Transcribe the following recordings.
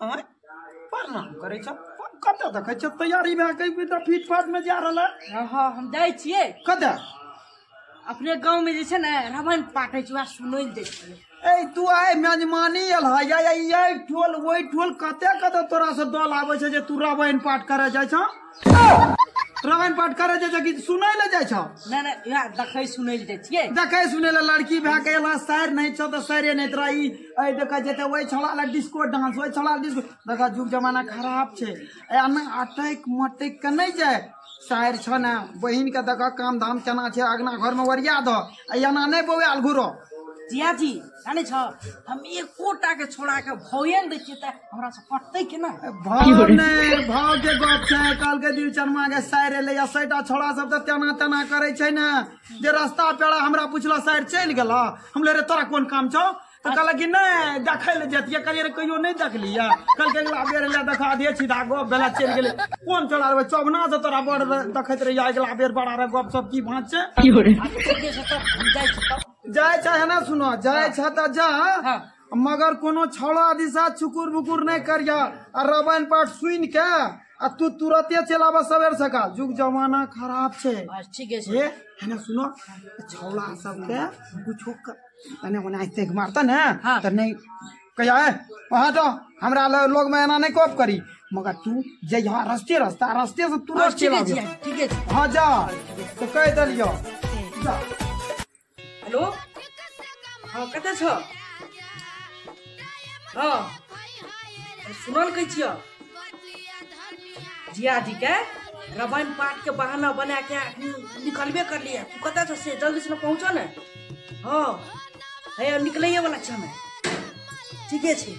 आँय प्रणाम करै छ कतऽ देखै छ तैयारी भए कऽ एकदम फीट फाट में जा रहल है हाँ हम जाइ छियै कतऽ अपने गाँव में जे छै ने रामायण पाठ होइ छै वएह सुनै लए जाइ छियै ए तू आइ मेजमानी एल है या या ई ठोल ओइ ठोल कते कते तोरा से दल आबै छै जे तू रामायण पाठ करे जाइ छ रामायण पाठ करे जे छै कि सुनै ले जाइ छौ नहि नहि इएह देखै सुनै लए जाइ छियै देखै सुनै ले लड़की भए के एला सैर नहि छौ तऽ सैरे नहि तोरा ई एहि देख जेतै ओहि छौड़ा लए डिस्को डांस ओहि छौड़ा लए डिस्को देख जुग जमाना खराब छै एना अटैक मटैक के नहि जाय सैर छौ ने बहिन के देख काम धाम केना छै अगना घर में ओरिया दह आ एना नहि बौआल घुरो जिया जी जानै छौ हम एकोटा के छोड़ा के भौए नहि दै छियै तऽ हमरा पटतै केना भाव नहि भाव के गप छै काल के दिल चरमा के साइर एलै या सैटा छोड़ा सब तऽ तेना तेना करै छै ने जे रास्ता पेड़ा हमरा पुछला साइर चलि गेला हम ले रे तोरा कोन काम छौ तऽ कहलक कि नहि देखै लए जतियै कहलियै रे कहियो नहि देखलियै कहलकै अगिला बेर लए देखा दे सीधा गप भेला चलि गेलै कोन चला रहबै चौबना से तोरा बड़ र- देखैत रहियै अगिला बेर बड़ा रे गप सब की भाँच छै आ तू जे छै तब हम जाइ छी तब जाय छै है ना सुनो जाय छै तऽ जा मगर कोनो छौड़ा दिशा छुकुर बुकुर नहि करिया आ रामायण पाठ सुनि के आ तू तुरते चल आबह सवेर सकाल जुग जमाना खराब छै आज ठीके छै हे है ना सुनो छौड़ा सबके कुछो क- तने ओना ऐसे के मारता ने हाँ। त नहीं कहिया है वहाँ तो हमरा ल- लोग में एना नहीं कोप करी मगर तू जे यहाँ रस्ते रस्ता रस्ते से तुरंत आज चल ठीके आबियो छै ठीके छै हाँ जा तो कह दलियो जा हेलो हँ कतऽ छऽ हँ सुनल कहै छियऽ जियाजीके रामायण पाठके बहाना बना के अखनी निकलबे करलियै तू कतऽ छऽ से जल्दी से पहुँचऽ ने हँ हैया निकलैए वाला छियै हमे ठीके छै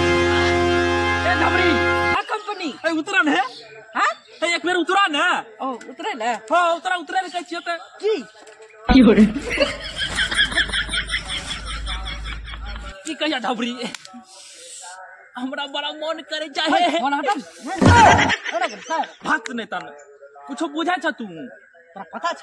ए धमरी का कंपनी ए उतरा ने हां ए एक बेर उतरा ने ओ उतरे ले हां उतरा उतरा ने कहै छियै त की की हो रे की कहिया धमरी हमरा बड़ा मन करे जाहे बोला हटम बोला कर भात नै तन कुछो बुझा छ तू तोरा पता छ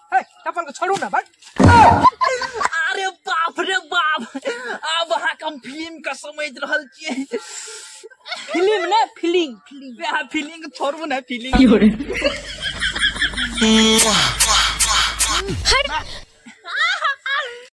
है अपन को छोड़ू ना बट अरे बाप रे बाप अब अहाँ हम फिल्म का समझ रहल छियै फिल्म ने फिल्म वएह फिल्म छोड़ू ने फिल्म हट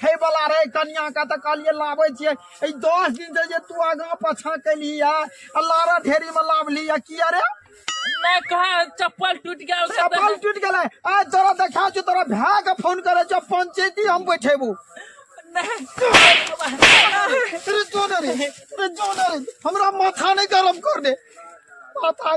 खाय वाला रहे कनिया के तऽ कहलियै लाबै छियै ई दस दिन से जे तू आगाँ पाछाँ केलही या आ लारा ढेरी में लावली या किया रे मैं कहा चप्पल टूट गया उसका चप्पल टूट गेलै आज तोरा देखा छौ तोरा भाय के फोन करे छौ पंचायती हम बैठेबू नहीं रे जो ने रे रे जो ने रे हमरा माथा नहीं गरम कर दे माथा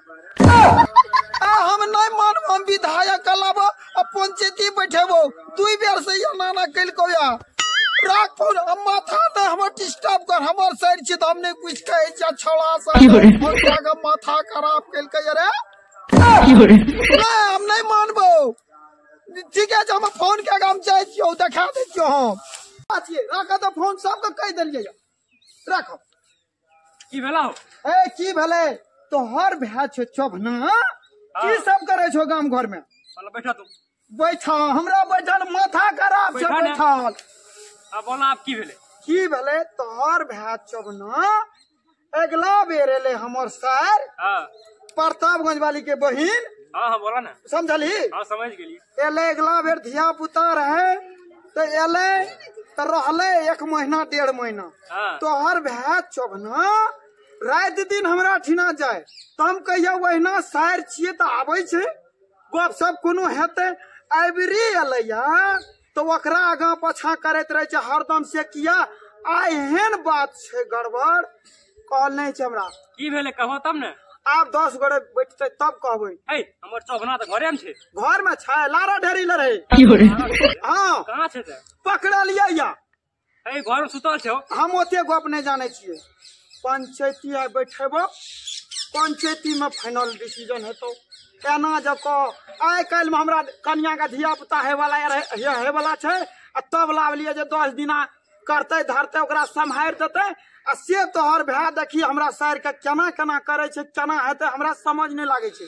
आ हम नहि मानब हम विधायक अलाब आ पंचायती बैठेबो दुई बेर से या नाना कल को या राख फोन हम माथा ने हमर डिस्टर्ब कर हमर सर छी त हमने कुछ कहे जा छोड़ा सा और जागा माथा खराब कल के रे नहीं हम नहीं मानबो ठीक है हम फोन के काम जाय छियो देखा दे छियो हम बात ये राख त फोन सबके कह देलिए राखो की भेला हो ए की भेलै तोहर भाय छो चोभना की सब करे छो गाम घर में चल बैठा तू बैठा हमरा बैठल माथा खराब छै बैठा ने। बैठल अब बोला आप की भेले की भेलै तोहर भाय चोभना अगला बेर एलै हमर सर हाँ प्रतापगंज वाली के बहिन हाँ हाँ बोला ना समझली हाँ समझ गेली एलै अगला बेर धिया पुता रहै तऽ एलै तऽ रहलै एक महीना डेढ़ महीना हाँ। तोहर भए चोभना राति दिन हमरा ठिना जाय तऽ हम कहिया ओहिना सारि छियै तऽ आबै छै गप सब कोनो हेतै अबरी एलैया तऽ ओकरा आगाँ पाछाँ करैत रहै छै हरदम से किया आ एहन बात छै गड़बड़ कहल नहि छै हमरा की भेलै कहो तब ने आब दस गोरे बैठतै तब कहबै है हमर चौभना तऽ घरे में छै घरमे छै लारा ढेरी लड़ै हँ कहाँ छै तऽ पकड़लियै या अरे घर में सुतल छौ हम ओते गप नहीं जाने छे पंचायती आइ बैठेब पंचायती में फाइनल डिसीजन हेतौ एना जब कह आइ काल्हि में हमरा कनिया के धिया पुता हेवला हेवला छे आ तब लावलिए जे दस दिना करते धरते ओकरा सम्हारि देते आ से तोहर भाय देखी हमरा सार के केना केना करे छे केना हेतै हमरा समझ नहीं लागे छे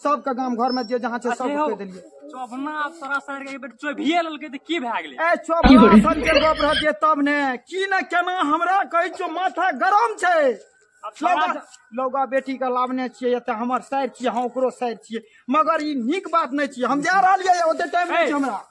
सबके गाम घर में जे जहाँ छै सब कह देलियै चौबना आब तोरा सर के बेर चोभिए लेलकै तऽ की भए गेलै ए चौबना सर के गप रहतियै तब ने की ने केना हमरा कहै छौ माथा गरम छै लौगा बेटी के लावने छियै एतऽ हमर सर छियै हम ओकरो सर छियै मगर ई नीक बात नहि छियै हम जा रहलियै ओते टाइम नहि छै हमरा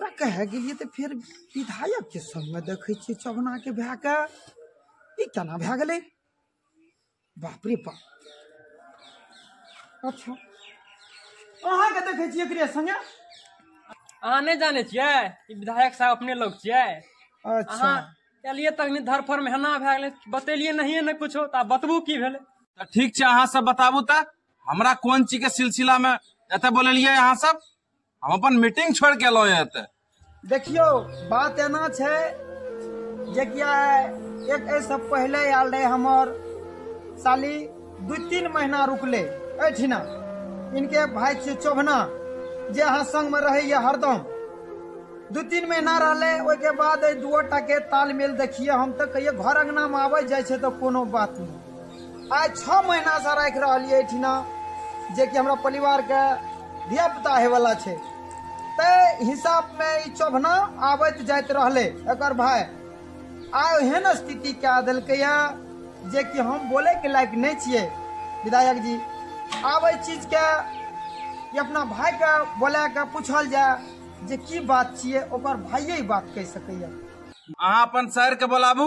ओकरा कहे गेलियै तऽ फेर विधायक के संग में देखे छियै चौगना के भए के ई केना भए गेलै बाप रे बाप अच्छा अहाँ के देखे छियै एकरे संगे अहाँ नहि जाने छियै ई विधायक साहब अपने लोग छियै अच्छा अहाँ एलियै तखनी धरफर में हेना भए गेलै बतेलियै नहिए ने कुछो तऽ आब बतबू की भेलै तऽ ठीक छै अहाँ सब बताबू तऽ हमरा कोन चीज के सिलसिला मे एतऽ बोलेलियै अहाँ सब हम अपन मीटिंग छोड़ के एलहुँ एतऽ देखियो बात एना छै जे कि आइ एक एहिसँ पहिले आयल रहे हमर साली दू तीन महीना रुकले एहिठिना इनके भाय छियै चौभना जे अहाँ संगमे रहैया हरदम दू तीन महीना रहले ओहिके बाद एहि दुओ टाके तालमेल देखिए हम तऽ कहियो घर अङ्गनामे आबै जाइ छै तऽ कोनो बात नहि आइ छओ महीनासँ राखि रहलियै एहिठिना जेकि हमरा परिवारके धियापुता होयवला छै ताहि हिसाबमे ई चोभना आबैत जाइत रहलै एकर भाय आइ ओहन स्थिति कए देलकैए जेकि हम बोलैके लायक नहि छियै विधायक जी आब एहि चीजके ई अपना भायके बोला कऽ पूछल जाय जे की बात छियै ओकर भाइये ई बात कहि सकैए अहाँ अपन शहरके बोलाबू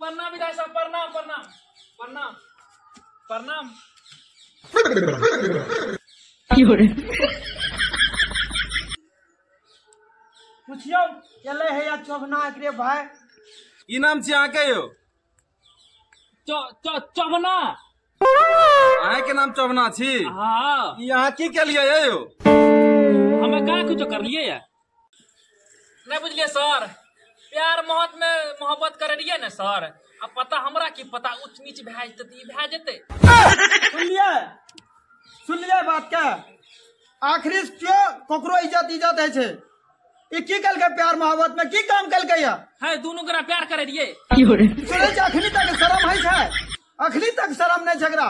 प्रणाम विधायक साहब प्रणाम प्रणाम प्रणाम प्रणाम पुछियौ एलै है या चौबना एकरे भाय की नाम छी अहाँके यौ च- च- चवना अहाँ के नाम चौबना छी हाँ ई अहाँ की केलियै ये यौ हमे का कुछ करलिए या नहीं बुझलिए सर प्यार मोहब्बत में मोहब्बत करे रहिए ने सर अब पता हमरा की पता उच्च नीच भए जेते तऽ ई भए जेते सुनलिए सुनलिए बात के आखिरी केओ ककरो इज्जत इज्जत होइ छै ई की केलकै प्यार मोहब्बत में की काम केलकै या है दोनों गोरा प्यार करे रहिए सुनै छै अखनी तक शरम है छै अखनी तक शरम नहि झगड़ा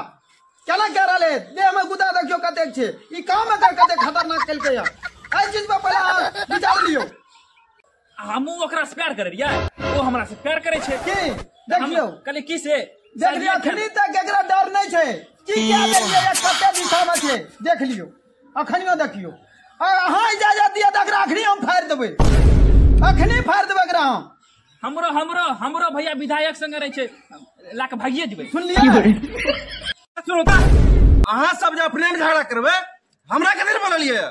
केना कह रहले देह में गुदा देखियो कतेक छै ई काम एकर कते खतरनाक केलकै या एहि चीज पर पहिले अहाँ विचार लियौ हमू ओकरा से प्यार करे रहिए ओ हमरा से प्यार करे छै की देखियौ कल की से देख लियौ अखनी तक एकरा डर नहि छै की कए देलियै या कते दिशा में छै देख लियौ अखनियो देखियो अगर अहाँ इजाजत दिअ तऽ एकरा अखनी हम फाड़ि देबै अखनी फाड़ि देबै एकरा हम हमरो हमरो हमरो भैया विधायक संगे रहे छै ला के भागिए जेबै सुनलियै सुनू तऽ अहाँ सब जे अपने मे झगड़ा करबै हमरा कथी बोललियै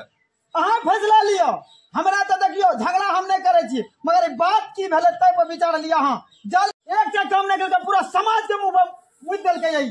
अहाँ फैसला लिअ हमरा तऽ देखियौ झगड़ा हम नहि करै छी मगर ई बात की भेलै ताहि पर विचार लिअ अहाँ जल एक से कम नहि केलकै पूरा समाज के मुंह पर मुद देलकै यही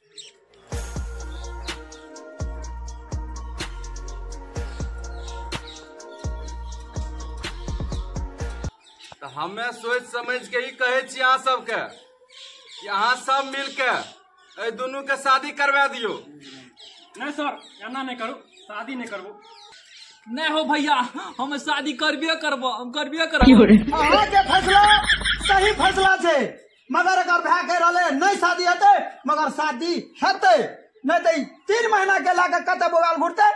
तऽ हमे सोचि समझ के ई कहै छी अहाँ सबके कि अहाँ सब मिल के एहि दुनू के शादी करवा दियौ नहीं सर एना नहीं करू शादी नहीं करबू नहीं हो भैया हम शादी करबे करबो हम करबे करबो अहाँके फैसला सही फैसला छै मगर अगर भए कहि रहलै नहि शादी हेतै मगर शादी हेतै नहि तऽ तीन महीना के लए कऽ कतऽ बोबाल घुरतै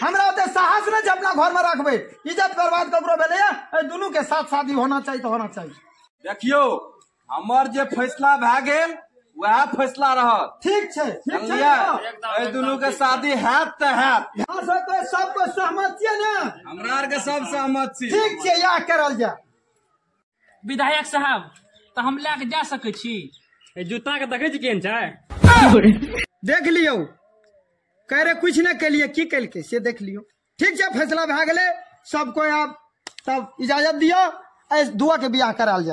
हमरा ओते साहस नहि छै अपना घरमे रखबै इज्जत बर्बाद ककरो भेलैए एहि दुनूके साथ शादी होना चाही तऽ होना चाही देखियौ हमर जे फैसला भए गेल वएह फैसला रहत ठीक छै ठीक छै एहि दुनू के शादी हैत तऽ हैत यहाँ से कोई सब कोई सहमत छियै ने हमरा आर के सब सहमत छी ठीक छै इएह करल जाय विधायक साहब तऽ हम लए कऽ जा सकै छी ए जूता के देखै छी केहन छै देख लियौ कह रहे कुछ नहि केलिए की केलकै से देख लियौ ठीक छै फैसला भए गेलै सब कोइ आब तब इजाजत दिअ एहि दुआके बियाह करायल जाय